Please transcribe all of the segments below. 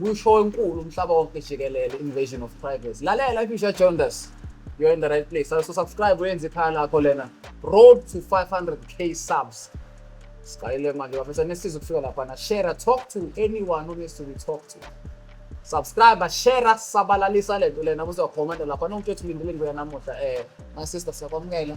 kusho enkulu umhlaba wonke jikelele invasion of privacy lalela if you share jonas you're in the right place so subscribe uyenze ikhaya lakho lena road to 500k subs siqalile manje bafethu anesiza ukufika lapha na share talk to anyone who needs to be talked to subscribe share sabalalisa lento lena kuzokhomenta lapha nomuntu othi lindile ngoya namuhla eh my sister siyakwamukela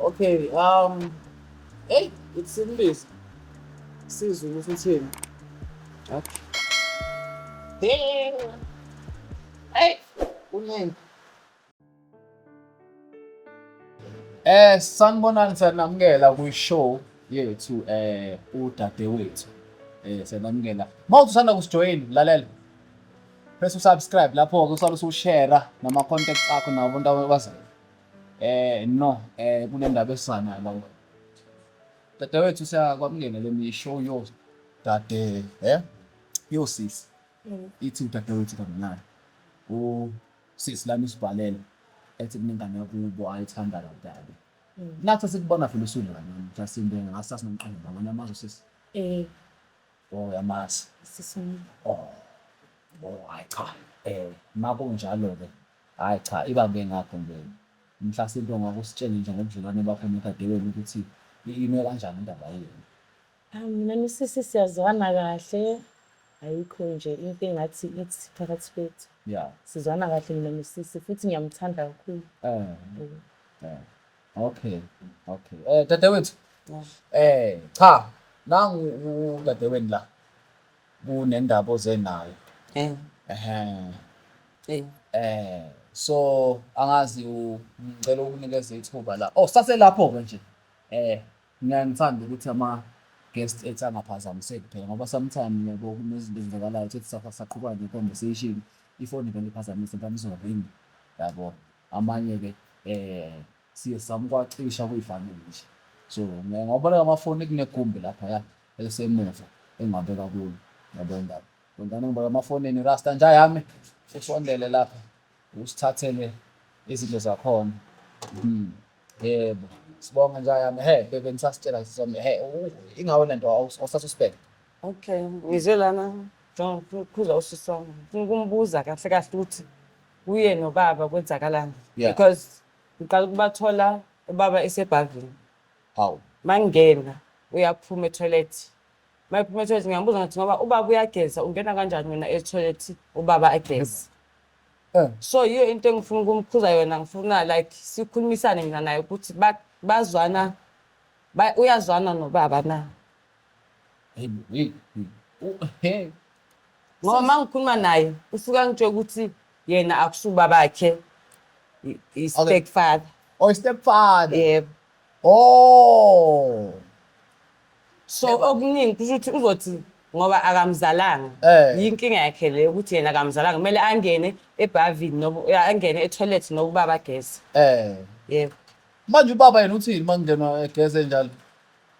Okay, um, hey, it's English. Sizulu sithini? Okay. Hey, hey, kuningi. Eh, sanibonani sanamukela kwi-show yethu eh udadewethu. Eh, sanamukela. Mawuthi usanda kusijoyina, lalela. Press usubscribe lapho-ke usale usushare nama-contacts akho nabo abantu abazayo. Eh no, eh kunendaba esana la. Dadewethu siyakwamukela le misho yo dade, eh? Yo sisi. Mm. Ithi udadewethu kamnandi. U sisi lami sibhalela ethi kunengane yakubo ayithanda la dade. Mm. Nathi sikubona phela usulu la nami, just into engasa sinomqondo ngabona amazwe sisi. Eh. Oh yamazi. Sisi. Oh. Oh, hayi cha. Eh, makunjalo ke. Hhayi cha ibambe ngakho nje mhla sento ngakho usitshele nje ngobudlelwane bakho nodadewenu ukuthi ime kanjani indaba yenu. Ayi mina nosisi siyazwana kahle ayikho nje into engathi ithi phakathi kwethu. Yeah. Sizwana kahle mina nosisi futhi ngiyamthanda kakhulu. Eh. Eh. Okay. Okay. Eh dadewethu. Eh cha nangu udadewenu la. kunendaba oze nayo Eh, ehe eh. eh so angazi u- ngicela ukunikeza ithuba la oh saselapho ke nje eh mina ngithanda ukuthi ama guest ethu angaphazamiseki phela ngoba sometimes yabo kunezinto ezenzakalayo ukuthi sasa saqhubana ne conversation ifoni vele iphazamise mfana izoringa yabo amanye ke eh siye samkwacisha kuyifanele nje so ngoba la amafoni kunegumbi lapha ya elisemuva engingabeka kulo yabo indaba Bhentana ngibeka emafonini Rasta nja yami usondele lapha usithathele izinto zakhona hmm. yebo sibonga nja yami he bebe nisasitshela sisome he ingawe le nto osasuspect okay ngize lana khuza usisoma ngifuna ukumbuza kahle kahle ukuthi kuye nobaba kwenzakalani because ngiqala ukubathola ubaba esebhavini Hawu. Mangena uyaphuma etoilet. Mayephuma etoilet ngiyamubuza ngathi ngoba ubaba uyageza ungena kanjani wena etoilet ubaba ageza. Eh. So yiyo into engifuna ukumkhuza yona ngifuna like sikhulumisane mina naye ukuthi ba- bazwana ba- uyazwana nobaba na. Hey, hey, hey. U- hey. Ngoba uma ngikhuluma naye usuke angitshela ukuthi yena akusuba bakhe i- i-stepfather. Or stepfather. Yebo. Oh. So Yebo. okuningi kusho ukuthi uzothi ngoba akamzalanga. Eh. Yinkinga yakhe le ukuthi yena akamzalanga kumele angene ebhavini noba ya, angene etoilet noba ubaba ageze. Eh. Yebo. Manje ubaba yena uthini makungena egeze njalo?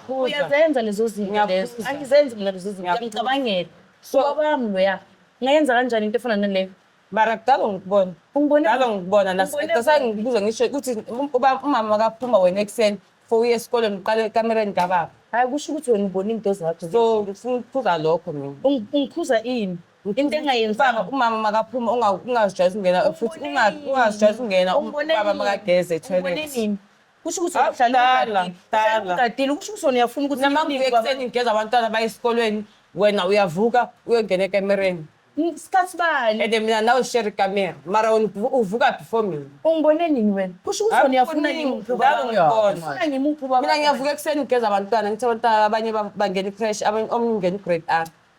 Phuza. uyazenza lezo zinto lezo Ngiyaphuza. angizenzi mina lezo zinto Ngiyaphuza. ngicabangela So- so kwami loya ngayenza kanjani into efana naleyo mara kudala ngikubona Ungibone- kudala ngikubona Ungibone- nasangibuza ngisho ukuthi um- uba- umama kaphuma wena ekuseni for uye esikoleni uqale ekamereni kababa hayi kusho ukuthi wena ubona into zakho so ngifuna ukuphuza lokho mina Ung- ungikhuza ini into Ubaba, engayenzanga umama makaphuma unga- ungazijwayezi ukungena futhi unga- ungazijwayezi ukungena ubaba makageze Ubone etoilet nini? kusho ukuthi Awu, uhlala dala, ugadile. Uhlala dala. ugadile kusho ukuthi wena uyafuna ukuthi Noma ngivuke nibaba- ekuseni ngigeza abantwana baye esikolweni wena uyavuka uyongena ekamereni N- sikhathi bani and mina nawe share ikamera mara wena uvu- uvuka before mina ungibone nini wena kusho ukuthi wena uyafuna Akuningi, ngimuphi ubaba nawe wakho. ngibona. Ufuna ngimuphi ubaba mina wakho. ngiyavuka ekuseni ngigeza abantwana ngithi abantwana abanye ba- bangena icrash abanye omunye ungena igrade r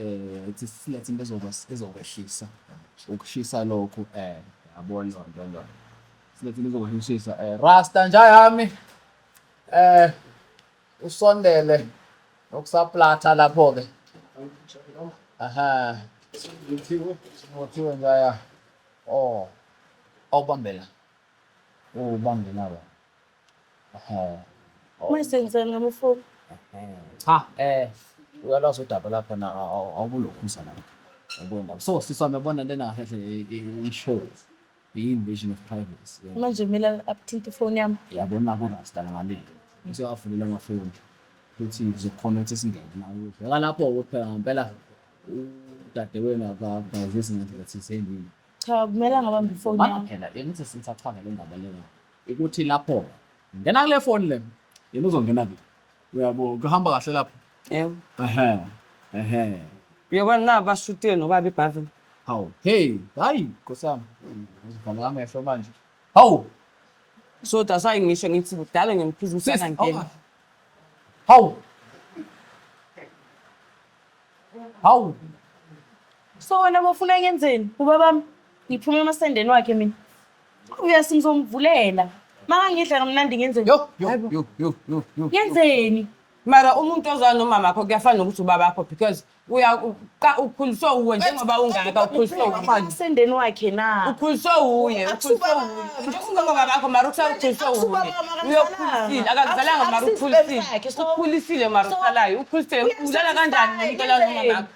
eh ithi silethe into ezokwas- ezokwehlisa ukushisa lokhu eh yabona loo nto leyo silethe into ezokwehlisa eh rasta nja yami eh usondele nokusaplatha lapho ke aha ngothiwe njaya oh awubambela ubambela wena Uma senzeni ngamufuni. Cha eh uyalwazi udaba lapha na awubulokhuza lapha. Yabona. So sisi wami yabona lena kahle i-show. Iyi-invasion of privacy. yabona. Manje mina abuthinta ifoni yami. yabona kurasta ngalile usewavulela amafoni futhi ngizokhona ukuthi singene nayo bheka lapho kuphela ngempela udadewenu akagazisi ngendlela thizeni Cha kumele angabamba ifoni yami. phela engithi singisachazela indaba lena ukuthi lapho ngena kule foni le yena uzongena kuphi uyabo kuhamba kahle lapho yebo ehe ehe uyabona la bashutile nobaba ibhavini hawu hey hayi nkosami uzivala amehlo manje hawu so that's why ngisho ngithi kudala ngemphiza ukuthi Sis, angangeni hawu. hawu hawu so wena bofuna ngenzeni ubabami ngiphume emasendeni wakhe mina Uyasi ngizomvulela. Maka ngidla kamnandi ngenzeni? Yo, yo, Hayibo. yo, yo, yo, yo. Ngenzeni? Mara umuntu ozwana nomama wakho kuyafana nokuthi ubaba wakho because uya uqa- ukhuliswe uwe njengoba ungaka ukhuliswe uwe. Usendeni wakhe na? Ukhuliswe uye, ukhuliswe uye. Njengoba ubaba wakho mara ukusala ukhuliswe uye. Uyokhulisile, akakuzalanga mara ukhulisile. Ukhulisile mara usalayo, ukhulisile. Udlala kanjani ngomuntu olala nomama wakho?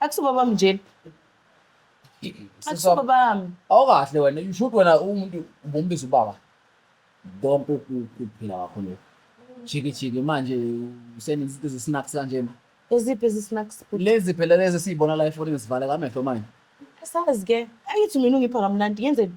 akusubabami njena akusubabami awukahle wena you should wena umuntu ubombiza ubaba konke ukuphila kwakho lokho jiki jiki manje useninzi izinto zesinaks kanjena eziphi ezisnacks bhuti lezi phela lezi esiyibona la efonini zivale kamehlo manje asazi ke angithi mina ungipha kamnandi ngenzeni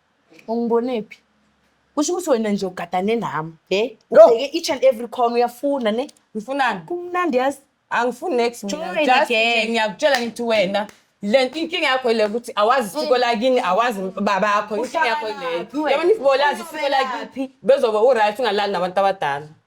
Ungibonephi? Kusho ukuthi wena nje ugadane nami. He? No. Ubheke each and every corner uyafuna ne? Ngifunani? Kumnandi yazi. Angifuni next mina. Join Just nje again. ngiyakutshela ngithi wena le nto inkinga yakho ile ukuthi awazi isiko lakini awazi babakho inkinga yakho Uhlala leyo laphi wena? yabona if bolazi isiko Uhlala lakini bezobe uright ungalali nabantu abadala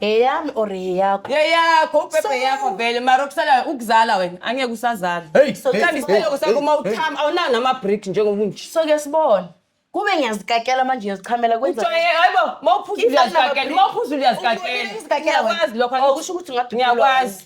eyami or eyakho yeyakho upepe yakho vele mara okusalayo ukuzala wena angeke usazala uthanda isibeleko sakho uma uthama awunawo nama-brick njengobunje so ke sibone kube ngiyazikakela manje ngiyazichamela kwenzaayibo mawuphuza uyazikakela mawuphuza uyazikakela ngiyakwazi lokho oh, kusho ukuthi ngiyakwazi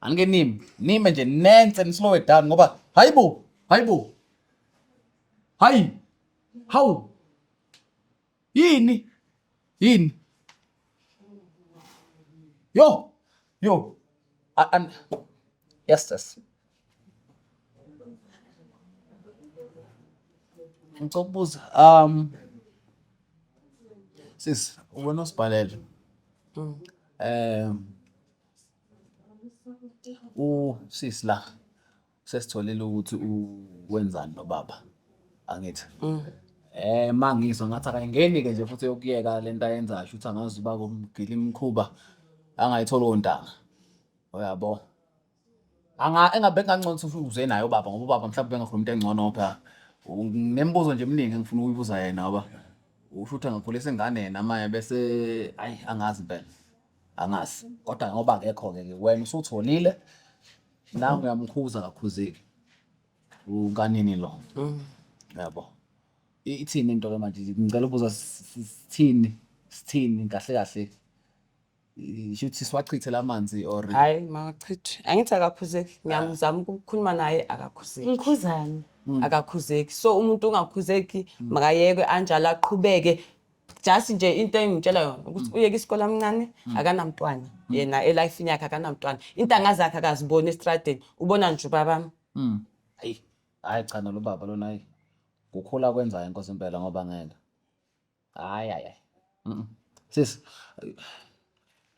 Anike nime, nime nje nense nislow it down ngoba hayibo, hayibo. Hayi. Hawu. Yini? Yini? Yo. Yo. A- an- Yes, yes. Ngicela ukubuza um sis wena osibhalele. Um usisi la sesitholile ukuthi wenzani nobaba angithi mm. eh mangizwa ngathi akayingeni ke nje futhi yokuyeka lento ayenzayo ukuthi angazi uba kumgila imkhuba angayithola ontanga uyabo anga engabe kancono ukuthi uze naye ubaba ngoba ubaba mhlawumbe bengakhuluma into engcono phela nemibuzo nje eminingi engifuna ukuyibuza yena ngoba usho ukuthi angakhulisa ingane yena manje bese ayi angazi impela angazi kodwa ngoba akekho-ke ke wena usutholile nangu uyamkhuza kakhuzeki ukanini lo yabo I- ithini into ke manje ngicela ubuza s- s- sithini sithini kahle kahle I- shuthi siwachithe lamanzi or hayi makachithi angithi akakhuzeki ngiyamzama ukukhuluma naye akakhuzeki ngikhuzani akakhuzeki so umuntu ongakhuzeki makayekwe anjalo aqhubeke just nje into engimtshela yona ukuthi uyeke isikole amncane akanamntwana yena elifini yakhe akanamntwana intanga zakhe akaziboni estradeni ubona nje ubabami Mm. Ayi, hayi cha nalo baba lona hayi. Kukhula kwenzayo inkosi impela ngoba ngeke. Hayi hayi. hayi. Mm. Sis.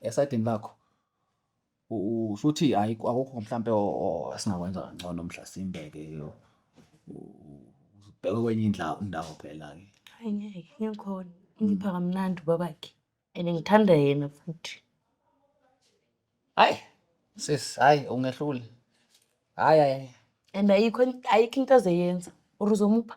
Esidini lakho. usho ukuthi hayi akukho mhlampe esingakwenza kangcono mhla simbeke ubheke kwenye indawo indawo phela-ke hayi ngeke ngikhona ngipha kamnandi ubabakhe and ngithanda yena futhi hayi sis hayi ungehlule hayi hayi and ayikho ayikho into azeyenza or uzomupha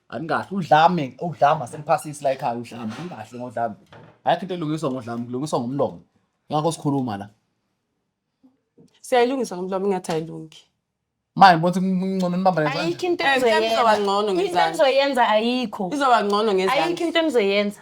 Anikahle udlame udlama seniphasisi la ekhaya udlame anikahle ngodlame. Ayikho into elungiswa ngodlame kulungiswa ngomlomo. Ngakho sikhuluma la. Siyayilungisa ngomlomo ingathi ayilungi. Manje ngibona ukuthi kungcono nibambane kanjani. ayikho into Eh, izoba engizoyenza ngcono into ngezansi. engizoyenza ayikho Izoba ngcono ayikho ngezansi. into engizoyenza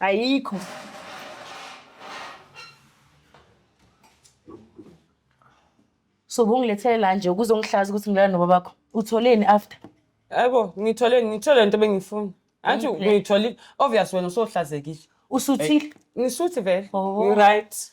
Ayikho. So ubungilethele la nje ukuzongihlaza ukuthi ngilala noba bakho. Utholeni after? Yebo, ngithole ngithole lento bengifuna. Anti ngithole obvious wena usohlazekile. Usuthile? Ngisuthi vele. Oh. Right.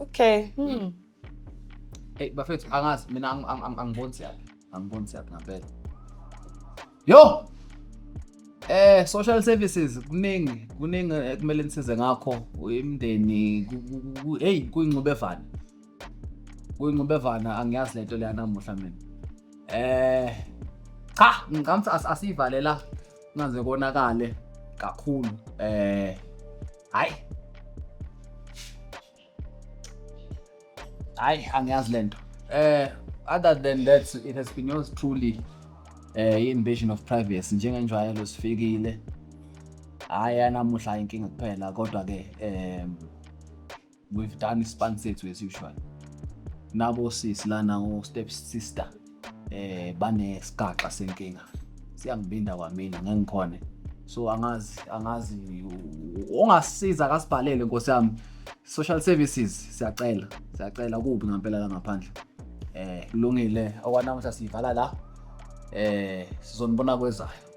Okay. Hmm. Hey bafethu angazi mina ang- ang- ang- angiboni siyaphi. Angiboni siyaphi ngampela. Yo! Eh social services kuningi kuningi eh, kumele nisize ngakho imindeni ku- ku- ku- ku- hey kuyingcubevana. Kuyingcubevana angiyazi lento leya namuhla mina. Eh cha ngicamsa asivalela ngaze konakale kakhulu. Eh Hayi. Hayi angiyazi lento. Eh other than that it has been yours truly eh invasion of privacy njengenjwayelo sifikile. Hayi anamuhla inkinga kuphela kodwa ke eh we've done ispan sethu as usual nabo sisi lana ngo step sister eh bane sigaxa senkinga siyangibinda kwamina ngengikhona so angazi angazi ongasiza akasibhalele nkosi yami social services siyacela siyacela kubi ngempela la ngaphandle eh kulungile okwanamuhla siyivala la eh sizonibona kwezayo